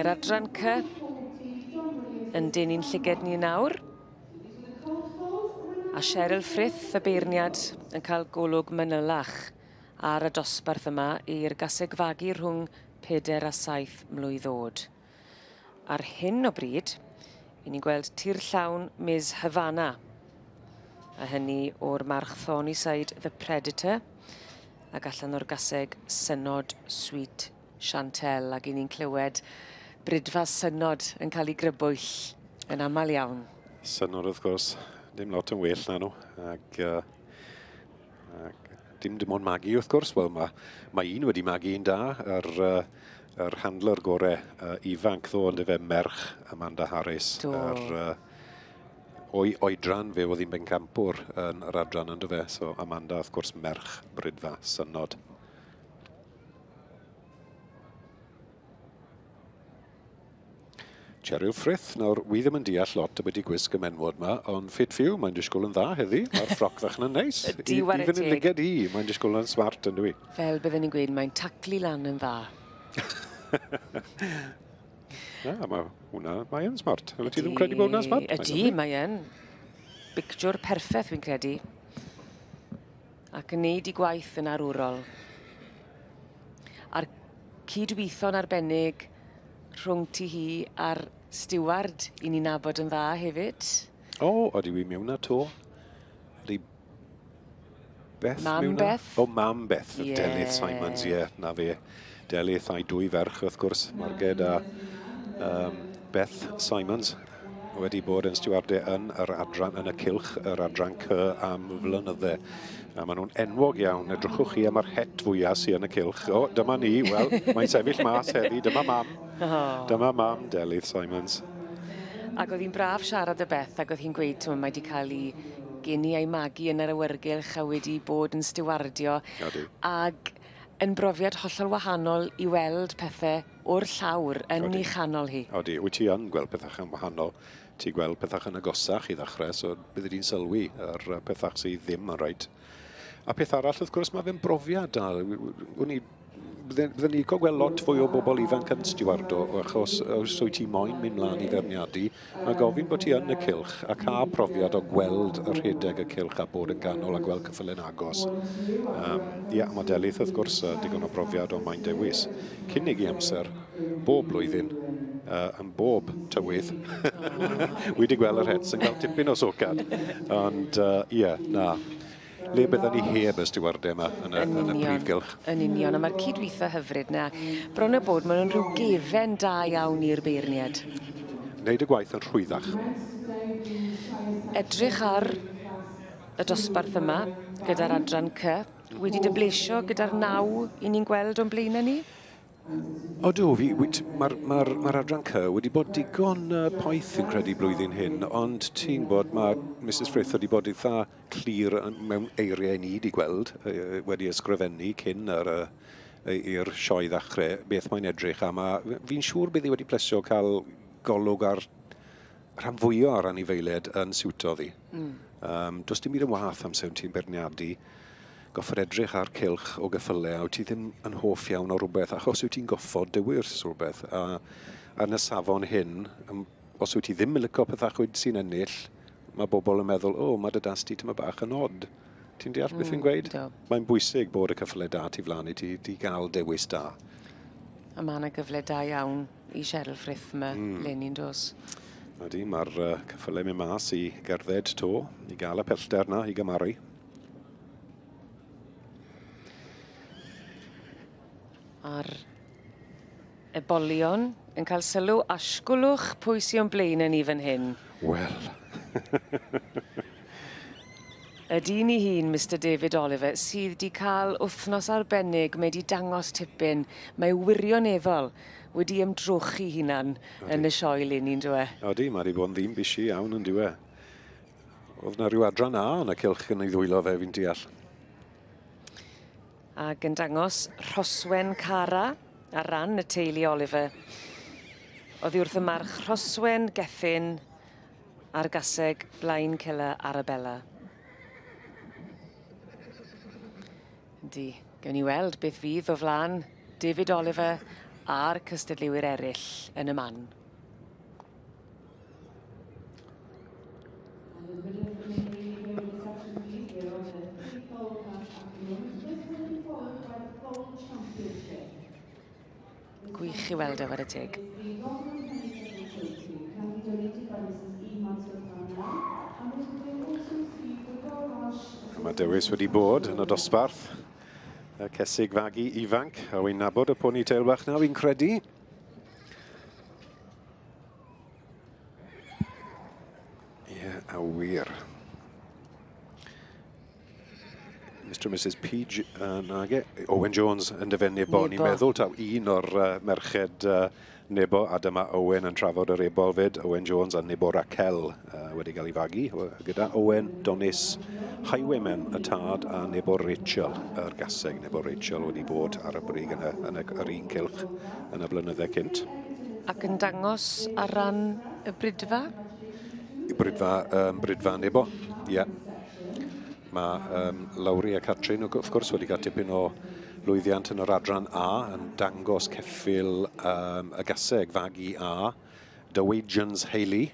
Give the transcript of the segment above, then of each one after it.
Yr adran cy yn dyn i'n llyged ni nawr. A Cheryl Frith, y beirniad, yn cael golwg manylach ar y dosbarth yma i'r gaseg fagu rhwng 4 a 7 mlwydd oed. Ar hyn o bryd, i ni'n gweld tir llawn Ms Havana, a hynny o'r march Thornyside The Predator, ac allan o'r gaseg Synod Sweet Chantel, ac i ni'n clywed Brydfa Synod yn cael ei grybwyll yn aml iawn. Synod wrth gwrs, dim lot yn well na nhw, ac uh, Ac dim dim ond magu wrth gwrs, wel mae, mae un wedi magu un da, yr, uh, yr handler gorau uh, ifanc ddo yn efe merch Amanda Harris. Do. Yr, uh, o'i oedran fe oedd hi'n bencampwr yn yr adran yn dyfe, so Amanda wrth gwrs merch brydfa synod. Cheryl Frith, nawr wi ddim yn deall lot ambiti gwisg y menwod ma, ond fit for you, mae'n disgwyl yn dda heddi, mae'r ffroc fach yna'n neis. Ydy, ware teg. Even yn liged i, mae'n disgwyl yna'n smart yndw i. Fel bydden ni'n gweud, mae'n taclu lan yn dda. Na, mae hwnna, mae yn smart. Ydy, ti ddim credu bod hwnna'n smart? Ydy, mae yn. Bictiwr perffaith, fi'n credu. ac yn neud i gwaith yn arwrol. A'r cydwitho'n arbennig rhwng ti hi a'r stiward i ni nabod yn dda hefyd. O, oh, oeddi wi mewn na to. Ydy Beth Mam mewn Beth? O, oh, Mam Beth, yeah. Delyth Simons, ie, yeah, na fe. Delyth a'i dwy ferch, wrth gwrs, Marged a um, Beth Simons, wedi bod yn stiwarde yn yr adran yn y cilch, yr adran cy am flynydde. A maen nhw'n enwog iawn. Edrychwch chi am yr het fwyaf sy'n yn y cilch. O, dyma ni. Wel, mae'n sefyll mas heddi. Dyma mam. Dyma mam Delyth Simons. Ac oedd hi'n braf siarad y Beth ac oedd hi'n gweud, ti'n mae wedi cael ei geni a'i magu yn yr awyrgylch a wedi bod yn stiwardio. Ac Yn brofiad hollol wahanol i weld pethe o'r llawr yn... Odi. ...'i chanol hi. Odi, wyt ti yn gweld pethach yn wahanol. Ti gweld pethach yn agosach i ddechre, so bydde di'n sylwi ar yy pethach sy ddim yn reit. A peth arall wrth gwrs ma' fe'n brofiad da. Wn i bydde bydden i'n lico gweld lot fwy o bobl ifanc yn stiwardo achos os wyt ti moyn mynd mlan i feirniadu Mae gofyn bod ti yn y cylch a cael profiad o gweld y rhedeg y cylch a bod yn ganol a gweld cyffyl yn agos. Um, ia, mae Delyth wrth gwrs uh, digon o brofiad ond mae'n dewis. Cynnig i amser, bob blwyddyn, uh, yn bob tywydd. Wedi gweld yr hets yn cael tipyn o socad. Ond uh, ia, na. le bydden ni heb y stiwarde yma yn y, yn, yn y prif gylch. Yn union, a mae'r cydweithio hyfryd na. Bron a bod, maen nhw'n rhyw gefen da iawn i'r beirniad. Wneud y gwaith yn rhwyddach. Edrych ar y dosbarth yma gyda'r adran cy. Wedi dy blesio gyda'r naw i ni'n gweld o'n blaenau ni? Odw, fi, mae'r ma ma adran cy wedi bod digon uh, poeth fi'n credu blwyddyn hyn, ond ti'n bod, mae Mrs Frith wedi bod eitha clir mewn eiriau ni 'di gweld, wedi ysgrifennu cyn yr i'r sioe ddechrau, beth mae'n edrych am, a fi'n siŵr bydd hi wedi plesio cael golwg ar rhan fwyaf o'r anifeiliaid yn siwto ddi. Mm. Um, does dim byd yn wath amser yn ti'n berniadu, goffod edrych ar cilch o gyffylau a wyt ti ddim yn hoff iawn o rhywbeth achos wyt ti'n goffod dywys rhywbeth a ar y safon hyn Os wyt ti ddim yn lico pethau chwyd sy'n ennill, mae bobl yn meddwl, o, mae dy das ti tyma bach yn od. Ti'n deall mm, beth fi'n gweud? Do. Mae'n bwysig bod y cyffle da ti flan i ti, ti gael dewis da. A mae yna gyfle da iawn i Cheryl Frith yma, mm. Lenny yn dos. Ydy, mae'r uh, cyffle mynd mas i gerdded to, i gael y pellter na, i gymaru. A'r Ebolion yn cael sylw, asgwlwch pwy sy o'n blaen yn ni fan hyn. Wel. Y dyn i hun, Mister David Oliver, sydd wedi cael wythnos arbennig, mae wedi dangos tipyn, mae wirioneddol wedi ymdrochi hunan yn y sioe leni, yn dywe? Odi, mae wedi bod yn ddim bisi iawn, yn dywe? Oedd na rhyw adran A yn y cylch yn ei ddwylo fe, fi'n deall. Ag yn dangos Rhoswen Cara ar ran y teulu Oliver. Oddi wrth y march Rhoswen Gethin a'r gaseg Blaen Cilla Arabella. Yndi, gawn ni weld beth fydd o flan David Oliver a'r cystadleuwyr eraill yn y man. Gwych i weld e, wad y teg. A mae Dewis wedi bod yn y dosbarth. Y cesig fagu ifanc, a wy'n nabod y poni teil bach na, fi'n credu. Ie, a wir. Mr and Mrs Peach uh, nage. Owen Jones yn dyfod Nebo. Ni'n meddwl taw un o'r uh, merched uh, Nebo a dyma Owen yn trafod yr ebol fyd. Owen Jones a Nebo Raquel uh, wedi cael ei fagu gyda Owen, Donis, Highwaymen y tad a Nebo Rachel, yr gaseg. Nebo Rachel wedi bod ar y brig yn, y, yn y, yr un cilch yn y blynyddau cynt. Ac yn dangos ar ran y brydfa? Y brydfa, um, brydfa Nebo, ie. Yeah. Mae um, Lowri a Catrin, wrth gwrs, wedi cael tipyn o lwyddiant yn yr adran A, yn dangos ceffil um, y gaseg, fagu A, Dowagians Haley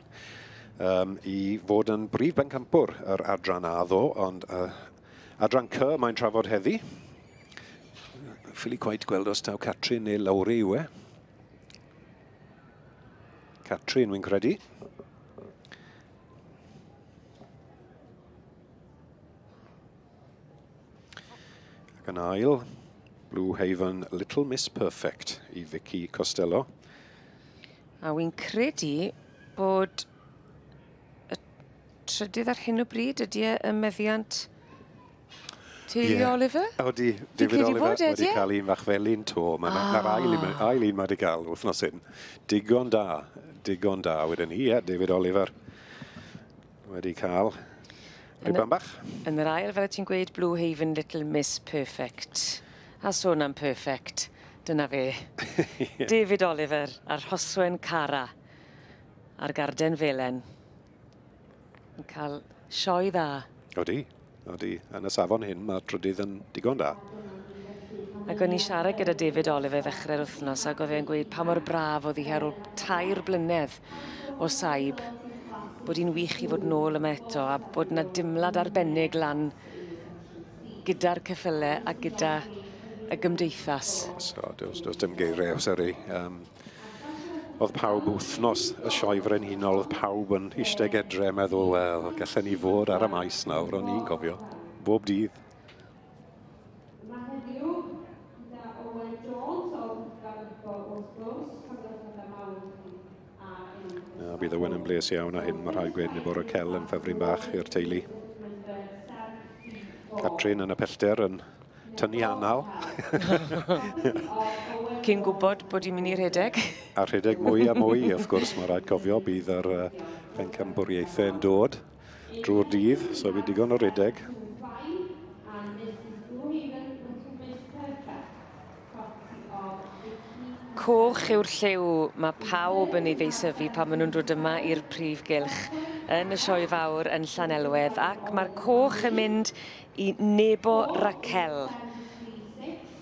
um, i fod yn brif bencampwr yr adran A ddo, ond uh, adran C mae'n trafod heddi. Ffili cwaid gweld os taw Catrin neu Lowry yw e. Catrin, wy'n credu. Ac yn ail, Blue Haven Little Miss Perfect i Vicky Costello. A wy'n credu bod y trydydd ar hyn o bryd, ydy e y meddiant teulu yeah. Oliver? Odi, David Oliver e, wedi cael un fach felyn to. Mae yna ah. ail un, ail un mae wedi cael wythnos hyn. Digon da, digon da wedyn ni, ie, David Oliver. Wedi cael rhywbeth bach. Yn yr ail, fel y ti'n gweud, Blue Haven Little Miss Perfect. A sôn am perfect, dyna fe. David Oliver a Rhoswen Cara ar garden felen. Yn cael sioe dda. Odi. Ydy, yn y safon hyn mae trydydd yn digon da. Ac o'n i'n siarad gyda David Oliver ddechrau'r wythnos ac oedd e'n gweud pa mor braf oedd hi ar ôl tair blynedd o saib bod hi'n wych i fod nôl yma eto a bod yna dimlad arbennig lan gyda'r cyffyle a gyda y gymdeithas. So, does, does dim geiriau, sori. Um, Oedd pawb wythnos y Sioe Frenhinol, oedd pawb yn eistedd edre, meddwl, wel, gallen ni fod ar y maes nawr, o'n i'n cofio, bob dydd. A bydd Owen yn bles iawn a hyn, mae rhaid gweud bod y cel yn ffefryn bach i'r teulu. Catrin yn y pellter yn tynnu anal. Cyn gwybod bod i'n mynd i rhedeg. A rhedeg mwy a mwy, wrth gwrs, mae rhaid cofio, bydd yr uh, pencambwriaethau yn dod drwy'r dydd, so bydd digon o rhedeg. coch yw'r lliw mae pawb yn ei ddeisyfu pan maen nhw'n dod yma i'r prif gylch yn y sioe fawr yn Llanelwedd ac mae'r coch yn mynd i Nebo Raquel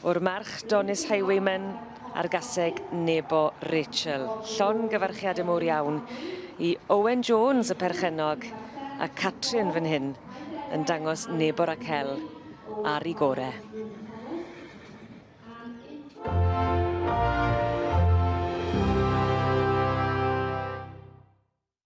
o'r March Donis Highwayman a'r gaseg Nebo Rachel. Llon gyfarchiad y mowr iawn i Owen Jones y perchennog a Catrin fan hyn yn dangos Nebo Raquel ar ei gorau.